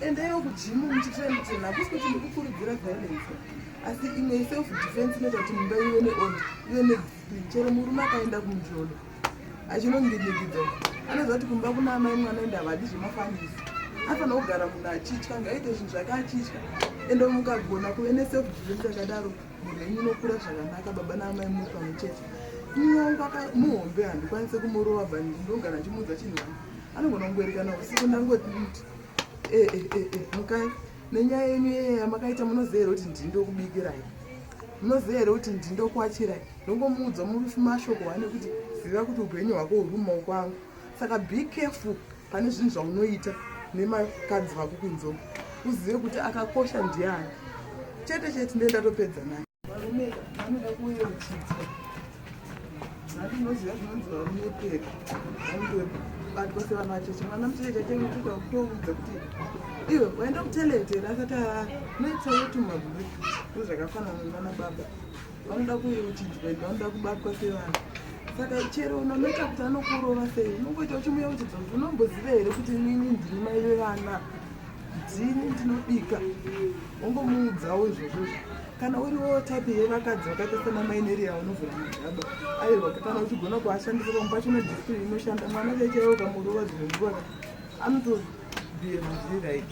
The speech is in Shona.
endaiwo kujimu muchitrain kuti hakusi kuti ndikukurudzira violence asi imwe iself defense inoita kuti mumba ive neorder ive nediscipline chero murume akaenda kumujolo achinonginyikidza anoziva kuti kumba kuna amai mwana ende havadi zvemafanisi afanira kugara munhu achitya ngaite zvinhu zvake achitya ende mukagona kuve neself defense yakadaro mhuri yenyu inokura zvakanaka baba naamai muri pamwe chete mumwe wangu akamuhombe handikwanise kumurova but ndinogara ndichimuudza chinhu vangu anogona kungoerekana usiku ndangoti eh, eh, eh, mukai nenyaya yenyu yeye yamakaita munoziva here kuti ndini ndokubikirai munoziva here kuti ndini ndokwachirai ndongomuudza mashoko wane kuti ziva kuti upenyu hwako huri mumaoko angu saka be careful pane zvinhu zvaunoita nemakadzi vako kunzoko uzive kuti akakosha ndiani chete chete ndee ndatopedza naye varume vanoda kuyeuchidzwa nhati unoziva zvinonzi varume peka vandobatwa sevana vacheche mwana mucheche chake unotoda kutoudza kuti iwe waenda kutelete rasati arara noitsayotumaburi ndozvakafanana nana baba vanoda kuyeuchidzwa ende vanoda kubatwa sevanhu saka chero unonoita kuti anokurova sei unongoita uchimuyeuchidza kuti unomboziva here kuti inini ndiri mai vevana ndini ndinobika wongomuudzawo izvozvozvo kana uriwo type yevakadzi vakaita sana maineria unovhura magaba aiwa kana uchigona kuashandisa pamwe pacho nediscipline inoshanda mwana chaichaiwo kamurova dzimwe nguva anotobievuzvi right